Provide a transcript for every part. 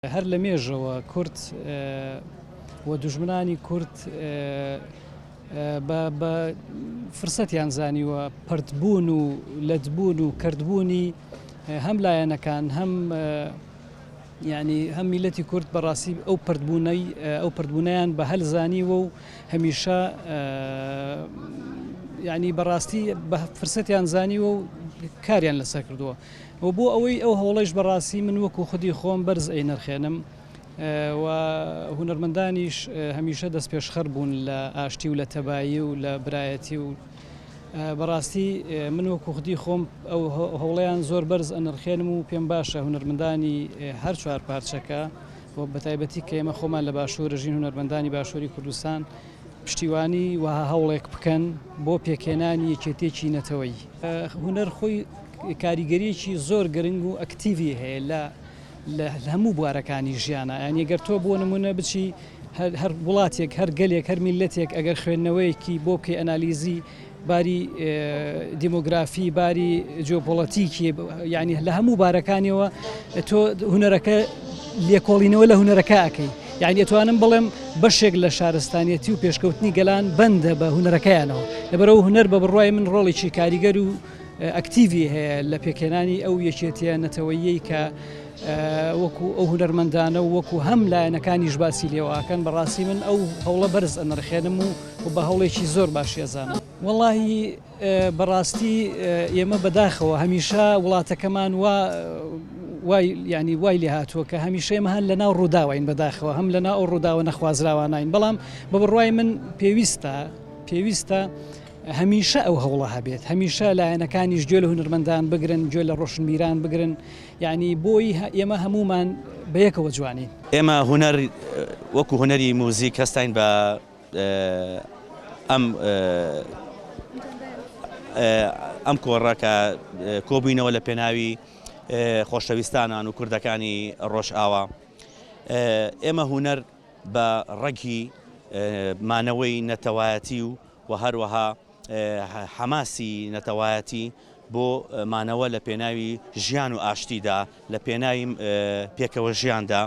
هەر لە مێژەوە کورد و دوژمنانی کورد بە فرسەتیان زانیوە پەرتبوون و لەتبوون و کەرتبوونی هەم لایەنەکان هەم یعنی هەم میلەتی کورد بەڕاستی ئەو پردبوونەی ئەو پردبوونیان بە هەل زانیوە و هەمیشە یعنی بەڕاستی بە فرسەتیان زانیوە و کاریان لەسەر کردووە و بۆ ئەوەی ئەو هەوڵەیش بە ڕاستی من وەکوو خودی خۆم بەرز ئەینرخێنم و هونەرمەندانیش هەمیشە دەستپێشخەر بوون لە ئاشتی و لە تەبایی و لە برایەتی و بە ڕاستی من وەکوو خودی خۆم ئەو هەوڵەیان زۆر بەرز ئەنرخێنم و پێم باشە هونەرمەندانی هەر چوار پارچەکە و بە تایبەتی کە ئێمە خۆمان لە باشوور دەژین هونەرمەندانی باشووری کوردستان پشتیوانی وەها هەوڵێک بکەن بۆ پێکهێنانی یەکێتییەکی نەتەوەیی هونەر خۆی کاریگەریەکی زۆر گرنگ و ئەکتیڤی هەیە لە لە هەموو بوارەکانی ژیانە یان یەگەر تۆ بۆ نمونە بچی هەر وڵاتێک هەر گەلێک هەر میلەتێک ئەگەر خوێندنەوەیەکی بۆ بکەی ئەنالیزی باری دیموگرافی باری جۆپۆڵەتیکی یعنی لە هەموو بارەکانیەوە تۆ هوەرەکە لێکۆڵینەوە لە هوەرەکە ئەەکەی یعنی ئەتوانم بڵێم بەشێک لە شارستانیەتی و پێشکەوتنی گەلان بەندە بە هوەرەکەیانەوە لەبەرەوە هوەر بە بڕای من ڕۆڵێکی کاریگەر و ئەکتیڤی هەیە لە پێکهێنانی ئەو یەکێتیە نەتەوەییەی کە وەکو ئەو هونەرمەندانە و وەکو هەم لایەنەکانیش باسی لێواکەن بەڕاستی من ئەو هەوڵە بەرز ئەنرخێنم و و بە هەوڵێکی زۆر باشی ئەزانم وەڵی بەڕاستی ئێمە بەداخەوە هەمیشە وڵاتەکەمان و وای ینی وای لێ هاتووە کە هەمیشەمە هەن لە ناو ڕووداوین بەداخەوە هەم لە ناو ڕووداوە نەخوازراوانین بەڵام بە بڕای من پێویستە پێویستە هەمیشە ئەو هەوڵە هەبێت هەمیشە لایەنەکانیش گوێ لە هونەرمەندان بگرن گوێ لە ڕۆشنبیران بگرن یانی بۆی ئێمە هەموومان بەیەکەوە جوانین. ئێمە هونەر وەکو هونەری موزیک هەستاین بە ئەم ئەم کۆڕە کە کۆبووینەوە لە پێناوی خۆشەویستانان و کوردەکانی ڕۆژئاوا ئێمە هونەر بە ڕەگی مانەوەی نەتەوایەتی و و هەروەها حەماسی نەتەوایەتی بۆ مانەوە لە پێناوی ژیان و ئاشتیدا لە پێناوی پێکەوە ژیاندا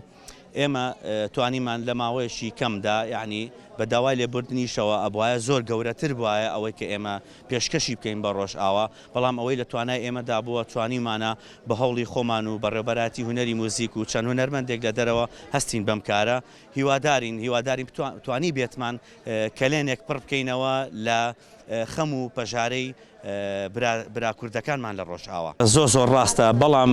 ئێمە توانیمان لە ماوەیەکی کەمدا یعنی بە داوای لێبوردنیشەوە ئەبواە زۆر گەورەتر بواە ئەوەی کە ئێمە پێشکەشی بکەین بە ڕۆژئاوا بەڵام ئەوەی لە توانای ئێمەدا بووە توانیمانە بە هەوڵی خۆمان و بەڕێبەراتی هوەری موزیک و چەند هوەرمەندێک لە دەرەوە هەستین بەم کارە هیوادارین هیوادارین توانی بێتمان کەلێنێک پڕ بکەینەوە لە خەم و پەژارەی برا برا کوردەکانمان لە ڕۆژئاوا. زۆر زۆر ڕاستە بەڵام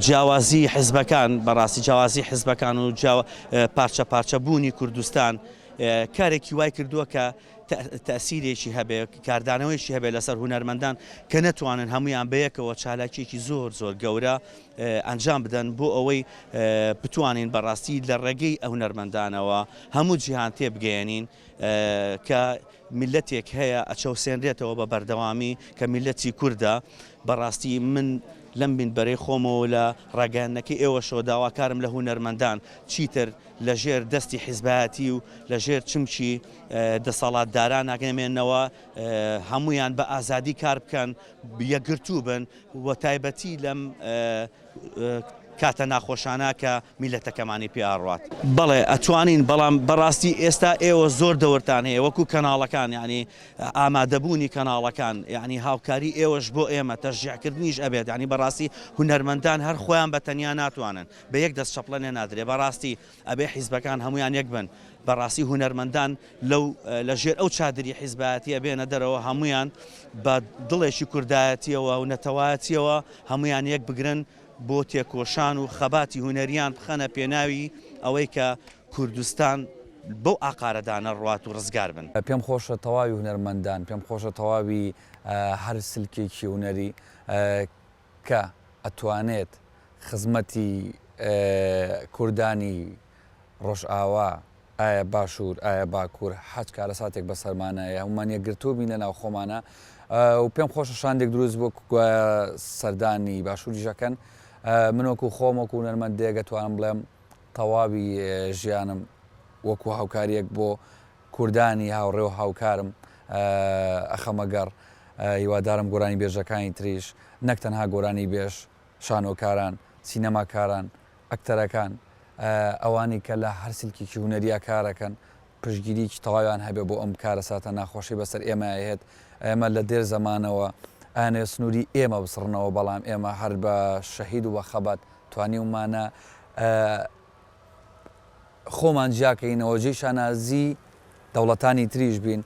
جیاوازی حزبەکان بەڕاستی جیاوازی حزبەکان و جیا پارچە پارچە بوونی کوردستان کارێکی وای کردووە کە تەئسیرێکی هەبێ کاردانەوەیەکی هەبێ لەسەر هونەرمەندان کە نەتوانن هەموویان بەیەکەوە چالاکیەکی زۆر زۆر گەورە ئەنجام بدەن بۆ ئەوەی بتوانین بەڕاستی لە ڕێگەی ئە هونەرمەندانەوە هەموو جیهان تێبگەیەنین کە میلەتێک هەیە ئەچەوسێنرێتەوە بە بەردەوامی کە میلەتی کوردە بەڕاستی من لەم بینبەرەی خۆمەوە لە ڕاگەیاندنەکەی ئێوەشەوە داواکارم لە هونەرمەندان چیتر لە ژێر دەستی حیزبایەتی و لە ژێر چمکی دەسەڵاتداران ناگەمێنەوە هەمویان بە ئازادی کار بکەن یەکگرتوو بن وە تایبەتی لەم کاتە ناخۆشانە کە میلەتەکەمانی پێ ئاڕوات. بەڵێ ئەتوانین بەڵام بەڕاستی ئێستا ئێوە زۆر دەورتان هەیە وەکو کەناڵەکان یانی ئامادەبوونی کەناڵەکان یانی هاوکاری ئێوەش بۆ ئێمە تەشجیعکردنیش ئەبێت یانی بەڕاستی هونەرمەندان هەر خۆیان بە تەنیا ناتوانن بە یەک دەست چەپڵە نێنادرێ بەڕاستی ئەبێ حیزبەکان هەموویان یەک بن، بەڕاستی هونەرمەندان لەو لە ژێر ئەو چادری حیزبایەتیە بێنە دەرەوە هەموویان بە دڵێکی کوردایەتیەوە و نەتەوایەتیەوە هەموویان یەک بگرن بۆ تێکۆشان و خەباتی هونەریان بخەنە پێناوی ئەوەی کە کوردستان بەو ئاقارە دا نەڕوات و ڕزگار بن. پێم خۆشە تەواوی هونەرمەندان، پێم خۆشە تەواوی هەر سلکێکی هونەری کە ئەتوانێت خزمەتی کوردانی ڕۆژئاوا ئایا باشور ئایا باکور حاج کارەساتێک بەسەرمانە یە هەموومان یەکگرتووبین لە ناو خۆمانا و پێم خۆشە شاندێک دروست بوو گوایە سەردانی باشوریش ئەکەن من وەکو خۆم وەکو هونەرمەندێک ئەتوانم بڵێم تەواوی ژیانم وەکو هاوکاریەک بۆ کوردانی هاوڕێ و هاوکارم ئەخەمە گەڕ، هیوادارم گۆرانی بێژەکانی تریش نەک تەنها گۆرانی بێژ، شانۆکاران، سینەماکاران، ئەکتەرەکان، ئەوانەی کە لە هەر سلکێکی هونەریا کارەکەن پشتگیریەکی تەواویان هەبێ بۆ ئەم کارەساتە ناخۆشەی بەسەر ئێمە ئەهێت، ئێمە لە دێر زەمانەوە ئەیانەوێ سنوری ئێمە بسڕنەوە بەڵام ئێمە هەر بە شەهید و بە خەبات توانیومانە خۆمان جیا کەینەوە جێی شانازی دەوڵەتانی تریش بین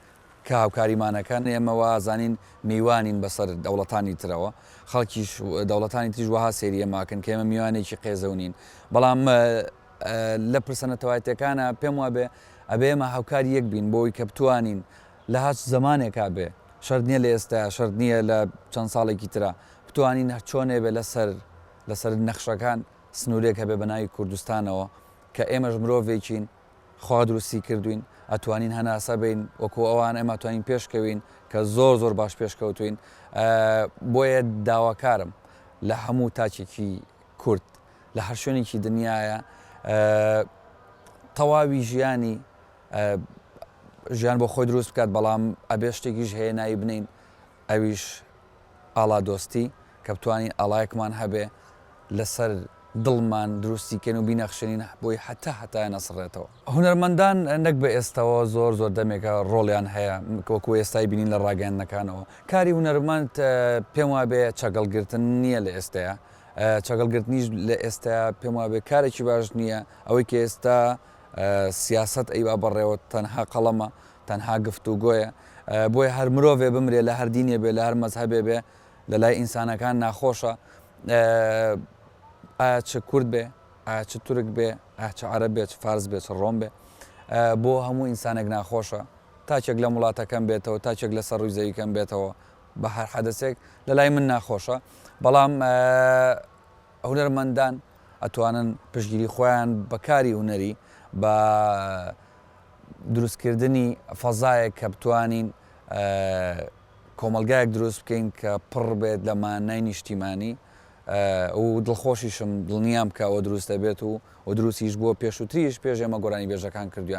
کە هاوکاریمان ئەکەن ئێمە وازانین میوانین بەسەر دەوڵەتانی ترەوە خەڵکیش دەوڵەتانی تریش وەها سەیری ئێمە ئەکەن کە ئێمە میوانێکی قێزەون نین بەڵام لە پرسە نەتەوایەتیەکانە پێم وابێ ئەبێ ئێمە هاوکاری یەک بین بۆ ئەوی کە بتوانین لە هەچ زەمانێکا بێ شەرت نییە لە ئێستایە شەرت نییە لە چەند ساڵێکی ترا بتوانین هەر چۆنێ بێ لەسەر لەسەر نەخشەکان سنورێک هەبێ بە ناوی کوردستانەوە کە ئێمەش مرۆڤێکین خوا دروستی کردوین ئەتوانین هەناسە بین وەکو ئەوان ئێمە توانین پێش کەوین کە زۆر زۆر باش پێش کەوتوین بۆیە داواکارم لە هەموو تاچێکی کورد لە هەر شوێنێکی دنیاە تەواوی ژیانی ژیان بۆ خۆی دروست بکات بەڵام ئەبێ شتێکیش هەیە ناوی بنین ئەویش ئاڵادۆستی، کە بتوانین ئاڵایەکمان هەبێ لەسەر دڵمان دروستی کەین و بینەخشێنین بۆی هەتا هەتایە نەسڕێتەوە. هونەرمەندان نەک بە ئێستەوە زۆر زۆر دەمێکە ڕۆڵیان هەیە وەکوو ئێستای بینین لە ڕاگەیاندنەکانەوە. کاری هونەرمەند پێم وابێ چەگەڵ گرتن نییە لە ئێستەیە. چەگەڵ گرتنیش لە ئێستەیە پێم وابێ کارێکی باش نییە. ئەوەی کە ئێستا سیاسەت ئەیبا بەڕێوە تەنها قەڵەمە. تەنها گفتوگۆیە بۆیە هەر مرۆڤێ بمرێ لە هەر دینێ بێ لە هەر مەزهەبێ بێ لە لای ئینسانەکان ناخۆشە ئایا چ کورد بێ ئایا چ تورک بێ ئایا چ عەرەب بێ چ فارس بێ چ ڕۆم بێ بۆ هەموو ئینسانێک ناخۆشە تاکێک لەم وڵاتەکەم بێتەوە تاکێک لە سەر ڕووی زەویکەم بێتەوە بە هەر حەدەسێک لە لای من ناخۆشە بەڵام هونەرمەندان ئەتوانن پشتگیری خۆیان بە کاری هونەری بە دروستکردنی فەزایەک کە بتوانین کۆمەڵگایەک دروست بکەین کە پڕ بێت لە مانای نیشتیمانی و دڵخۆشیشم دڵنیام کە ئەوە دروست دەبێت و و دروستیش بووە پێشووتریش پێش ئێمە گۆرانیبێژەکان کردویان.